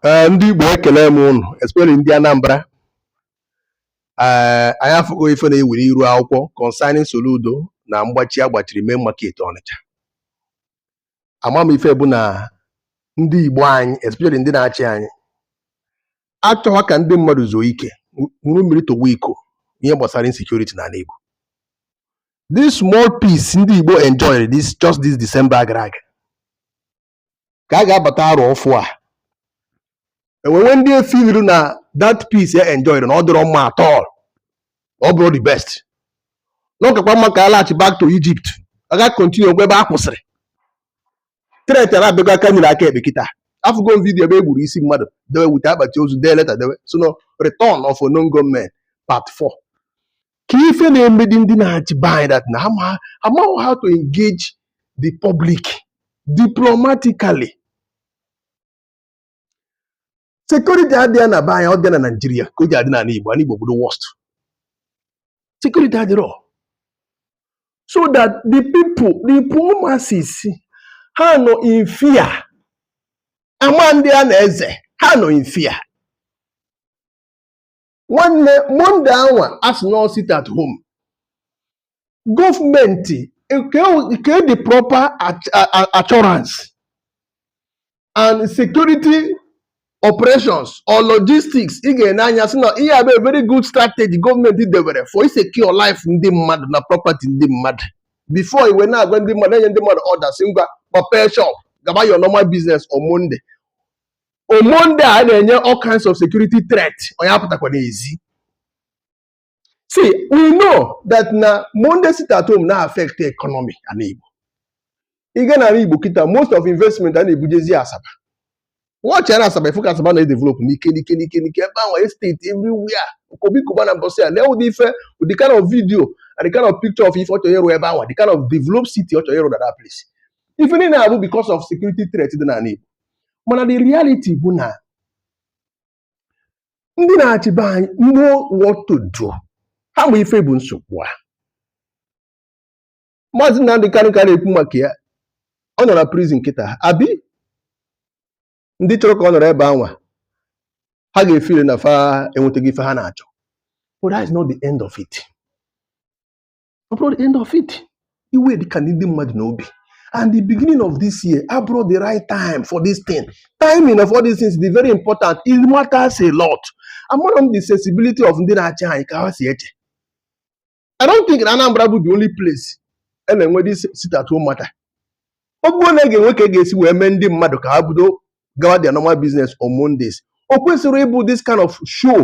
Ee, ndị Igbo ekele m ụnụ especially ndị Anambra ee anyị afụgo ife na-ewere iru akwụkwọ concerning Soludo na mgbachi a gbachiri main market Ọnịcha ama m ife bụ na ndị Igbo anyị especially ndị na-achị anyị achọghị ka ndị mmadụ zuo ike ṅụrụ mmiri tọgbọ iko ihe gbasara insecurity n'ala Igbo this small peace ndị Igbo enjoyed this just this December gara aga ka a ga-abata arọ ọfụụ a enwewe ndị efeeliri na that peace e enjoyed na ọ dịrọ mma at all ọ bụrọ the best na ọ kakwa mma ka a laghachi back to Egypt a ga continue ngwa ebe a kwụsịrị threat a na-abịago aka nri aka ekpe kịta afụgo m vidiyo ebe e gburu isi mmadụ dewe wute akpati ozu dee leta dewe sị na return of unknown gunmen part 4 ka ife na-emedi ndị na-achị be anyị that na ha amaghị how to engage the public diplomatically security adịghị na be anyị ọ dị na Naịjirịa ka o ji adị n'ala Igbo ala Igbo ọ bụ the worst security adịrọ so that the people the poor masses ha nọ in fear ama ndị a na-eze ha nọ in fear nwanne Monday anwa a sị no sit at home gọọmenti kee the proper assurance and security operations or logistics ị ga-ene anya sị na ihe a bụ very good strategy gọọmenti debere for ịsecure life ndị mmadụ na property ndị mmadụ before i wee na-agwa ndị mmadụ enye ndị mmadụ orders ngwa kpọpee shop gaba your normal business on Monday on Monday a na-enye all kinds of security threat onye apụtakwa n'ezi see we know that na Monday sit at home na-affect economy ala Igbo ị gaa n'ala Igbo kịta most of investment a na-ebujezi Asaba watch na Asaba ị fụ ka Asaba na-edevelop n'ike n'ike n'ike n'ike ebe ahụ estate everywhere Obi Cubana mbọsị a lee ụdị ife the kind of video and the kind of picture of ife ọ chọrọ ịrụ ebe ahụ the kind of developed city ọ chọrọ ịrụ na that place ife niile a bụ because of security threat dị n'ala Igbo mana the reality bụ na ndị na-achị be anyị know what to do ha ma ife bụ nsogbu a maazị Nnamdị Kanu ka na-ekwu maka ya ọ nọ na prison kịta abi ndị chọrọ ka ọ nọrọ ebe anwa ha ga-efeel na fa enwetaghị ife ha na-achọ but that is not the end of it. ọ bụrọ the end of it iwe dị ka ndị mmadụ n'obi and the beginning of this year abụrọ the right time for this thing timing of all these things is very important it matters a lot amarọ m the sensibility of ndị na-achị anyị ka ha si eche I don't think na Anambra bụ the only place a na-enwe this sit at home matter ọ bụrụ na ị ga-enwe ka ị ga-esi wee mee ndị mmadụ ka ha bido gawa their normal business on Mondays o kwesịrị ịbụ this kind of show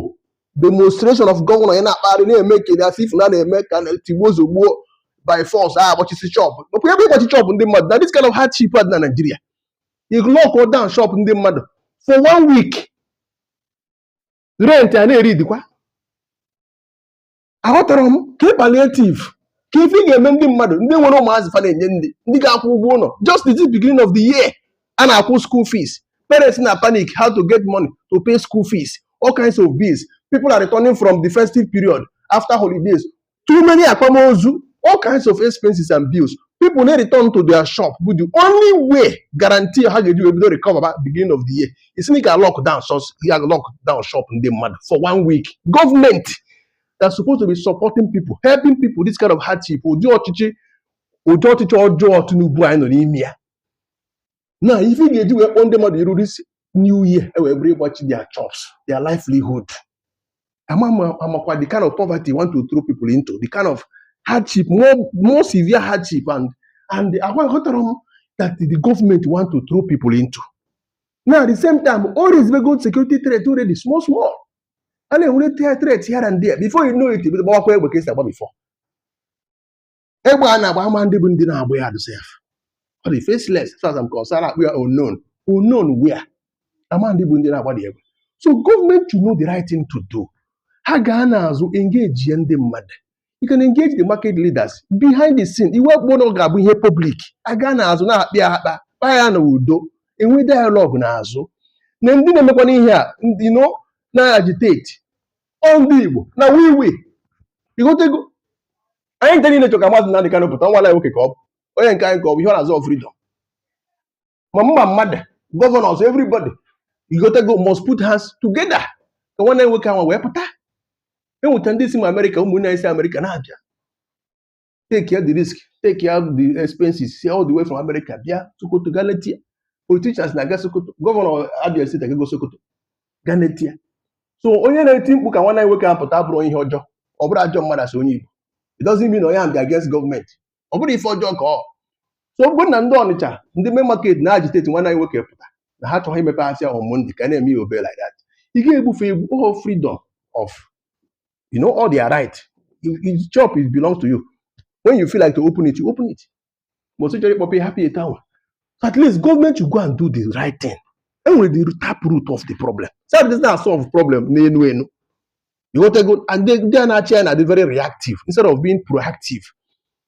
demonstration of gọvanọ ya na-akpagharị na-eme ka as if na na-eme ka tigbuo zogbuo by force a agbachisi shop mekwa ebe ịgbachi shop ndị mmadụ na this kind of hardship a dị na Naịjirịa you lock down shop ndị mmadụ for one week rent a na-eri dịkwa aghọtara m ka ị palliative ka ife ị ga-eme ndị mmadụ ndị nwere ụmụazị fa na-enye nni ndị ga-akwụ ụgwọ ụlọ just the beginning of the year a na-akwụ school fees parents na panic how to get money to pay school fees all kinds of bills people are returning from the festive period after holidays too many akwamozu all kinds of expenses and bills people na return to their shop bụ the only way guarantee ha ga-eji wee bido recover ba beginning of the year ị sị na ị ga lockdown so ya lockdown shop ndị mmadụ for one week government that's supposed to be supporting people helping people this kind of hardship ụdị ọchịchị ụdị ọchịchị ọjọọ Tinubu anyị nọ n'ime ya na ife ị ga-eji wee kpọọ ndị mmadụ iru this new year e wee bụrụ ịgbachi their jobs their livelihood ama m ma ị makwa the kind of poverty you want to throw people into the kind of hardship more more severe hardship and and agwa ghọtara m that the government want to throw people into now at the same time o raisebego security threat already small small a na-enwere threat here and there before you know it gbawakwa egbe ka esi agba before egbe a na-agba ama ndị bụ ndị na-agba ya adụsị ya ọ dị faceless as far as I'm concerned a kpọọ ya unknown unknown where a ma ndị bụ ndị na-agba the egbe so gọọmenti should know the right thing to do ha gaa n'azụ engage ya ndị mmadụ you can engage the market leaders behind the scene e wepụkwa na ọ ga-abụ ihe public a gaa n'azụ na-akpa ya akpa kpaa ya na udo e nwee dialogue n'azụ na ndị na-emekwana ihe a ndị you know na-agitate ọ ndị Igbo na-ewe iwe ị ghọtago anyị ncha niile chọ ka Maazị Nnamdi Kanu pụta nwa nwoke ka ọ bụ onye nke anyị ka ọ bụ ihe ọ na-azọ freedom ma mmụọ ma mmadụ gọvanọs everybody ị ghọtago must put hands together ka nwanne nwoke ahụ wee pụta enweta ndị si ma Amerịka ụmụnne anyị si Amerịka na-abịa take the risk take the expenses si all the way from America bịa Sokoto ga leta ya politicians na-aga Sokoto gọvanọ Abia steeti agago Sokoto ga leta ya so onye na-eti mkpu ka nwanne anyị nwoke ahụ pụta bụrụ ihe ọjọọ ọ bụrụ ajọ mmadụ a sị onye Igbo it doesn't mean na onye ahụ dị against gọọmenti ọ bụrụ ife ọjọọ ka ọ so ọ bụrụ na ndị Ọnịcha ndị main market na-agitate nwanne anyị nwoke pụta na ha chọghị imepe ashịa on Monday ka a na-eme ya obere like that ị ga-ebufe egwu oho freedom of you know all their right If- if shop it belongs to you when you feel like to open it you open it mbọsị ị chọrọ ịkpọpe hapụ ete awa so at least gọọmenti should go and do the right thing e nwere the tap root of the problem so that does not solve problem n'enu enu ị ghọtago and ndị a na-achị anyị na-adị very reactive instead of being proactive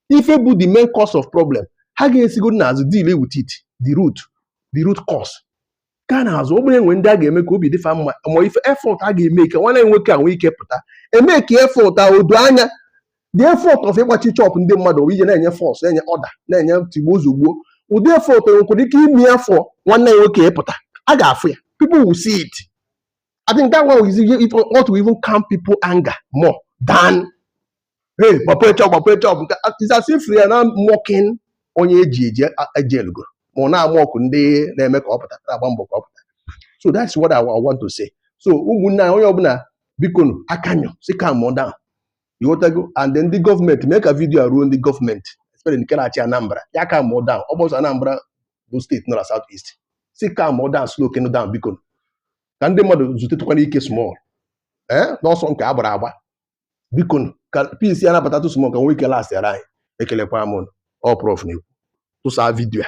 ife bụ the main cause of problem ha ga-esigodu n'azụ deal with it the root the root cause gaa n'azụ ọ bụrụ e nwee ndị a ga-eme ka obi dị fa mma ma ife effort a ga-eme ka nwanne anyị nwoke a nwee ike pụta e mee ka effort a doo anya the effort of ịgbachi shop ndị mmadụ bụ ije na-enye force na-enye order na-enye tigbuo zọgbuo ụdị effort nwekwara ike ime for nwanne anyị nwoke ịpụta a ga-afụ ya people will see it I think that one is enough to even calm people anger more than hey gbapee shop gbapee shop it's as if we are now mocking onye e ji eji eji elugo ma ọ na-amock ndị na-eme ka ọ pụta na-agba mbọ ka ọ pụta so that's what I, I want to say so ụmụnne anyị onye ọbụla bikonụ ka anyị si calm down ị ghọtago and then ndị gọọmenti mee ka vidiyo a ruo ndị gọọmenti especially nke na-achị Anambra ya calm down ọ bụrọ sọ Anambra bụ steeti nọ na South East sị calm down slow kenu down bikonụ ka ndị mmadụ zutetụkwanụ ike small ee n'ọsọ nke a gbara agba bikonụ, ka peace ya na-abatatụ small ka nwee ike lasị ara anyị ekelekwara m ụnụ ọ Prof na-ekwu tụsaa vidiyo a